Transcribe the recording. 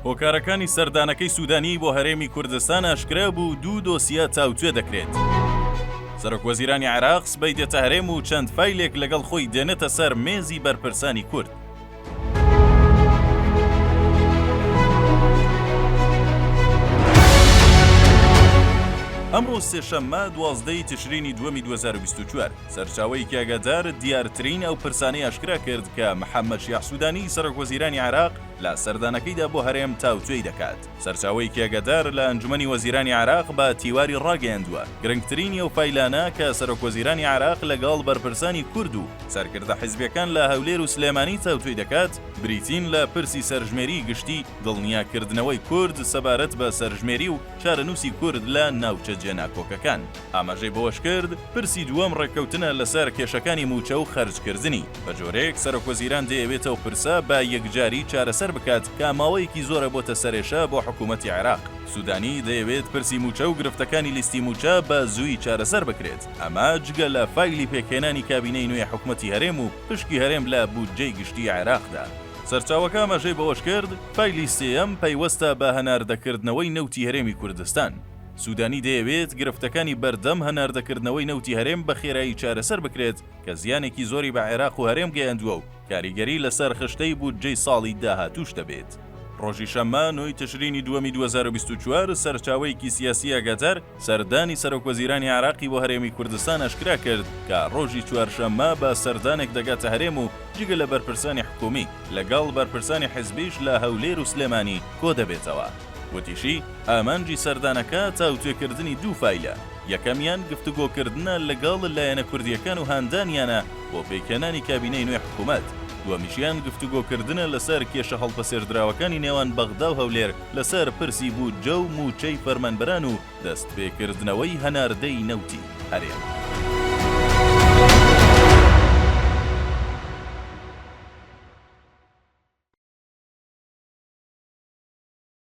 هۆکارەکانی سەردانەکەی سوودانی بۆ هەرێمی کوردستان ئاشکرا بوو دوو دۆسیە تاوتوێ دەکرێت. سەرۆک وەزیرانی عێراق سبەی دێتە هەرێم و چەند فیلێک لەگەڵ خۆی دێنێتە سەر مێزی بەرپرسانی کورد. ئەمڕۆ سێشەممە دوازدەی تشرینی دووەمی 2024 سەرچاوەیەکی ئاگادار دیارترین ئەو پرسانەی ئاشکرا کرد کە محەممەد شیاع سوودانی سەرۆکوەزیرانی عێراق لە سەردانەکەیدا بۆ هەرێم تاوتوێی دەکات. سەرچاوەیەکی ئاگادار لە ئەنجومەنی وەزیرانی عێراق بە تیواری ڕاگەیاندووە، گرنگترینی ئەو فایلانە کە سەرۆکوەزیرانی عێراق لەگەڵ بەرپرسانی کورد و سەرکردە حیزبییەکان لە هەولێر و سلێمانی تاوتوێی دەکات، بریتین لە پرسی سەرژمێریی گشتی، دڵنیاکردنەوەی کورد سەبارەت بە سەرژمێری و چارەنووسی کورد لە ناوچە جێناکۆکەکان. ئاماژەی بەوەشکرد، پرسی دووەم ڕێککەوتنە لەسەر کێشەکانی مووچە و خەرجکردنی، بەجۆرێک سەرۆکوەزیران دەیەوێت ئەو پرسە بە یەکجاری چارەسەر بکات کە ماوەیەکی زۆرە بۆتە سەرێشە بۆ حکومەتی عێراق. سودانی دەیەوێت پرسی مووچە و گرفتەکانی لیستی مووچە بە زووی چارەسەر بکرێت، ئەمە جگە لە فایلی پێکهێنانی کابینەی نوێ حکومەتی هەرێم و پشکی هەرێم لە بودجەی گشتی عێراقدا. سەرچاوەکە ئاماژەی بەوەشکرد، فایلی سێیەم پەیوەستە بە هەناردەکردنەوەی نەوتی هەرێمی کوردستان، سوودانی دەیەوێت گرفتەکانی بەردەم هەناردەکردنەوەی نەوتی هەرێم بە خێرایی چارەسەر بکرێت کە زیانێکی زۆری بە عێراق و هەرێم گەیاندووە و کاریگەری لەسەر خشتەی بودجەی ساڵی داهاتووش دەبێت. ڕۆژی شەممە، نۆی تشرینی دووەمی دوو هەزار و بیست و چوار، سەرچاوەیەکی سیاسی ئاگادار، سەردانی سەرۆکوەزیرانی عێراقی بۆ هەرێمی کوردستان ئاشکرا کرد کە ڕۆژی چوارشەممە بە سەردانێک دەگاتە هەرێم و جگە لە بەرپرسانی حکوومی، لەگەڵ بەرپرسانی حزبیش لە هەولێر و سلێمانی کۆدەبێتەوە. وتیشی، ئامانجی سەردانەکە تاوتوێکردنی دوو فایلە، یەکەمیان گفتوگۆکردنە لەگەڵ لایەنە کوردییەکان و هاندانیانە بۆ پێکهێنانی کابینەی نوێی حکومەت، دووەمیشیان گفتوگۆکردنە لەسەر کێشە هەڵپەسێردراوەکانی نێوان بەغدا و هەولێر لەسەر پرسی بودجە و مووچەی فەرمانبەران و دەستپێکردنەوەی هەناردەی نەوتی هەرێم.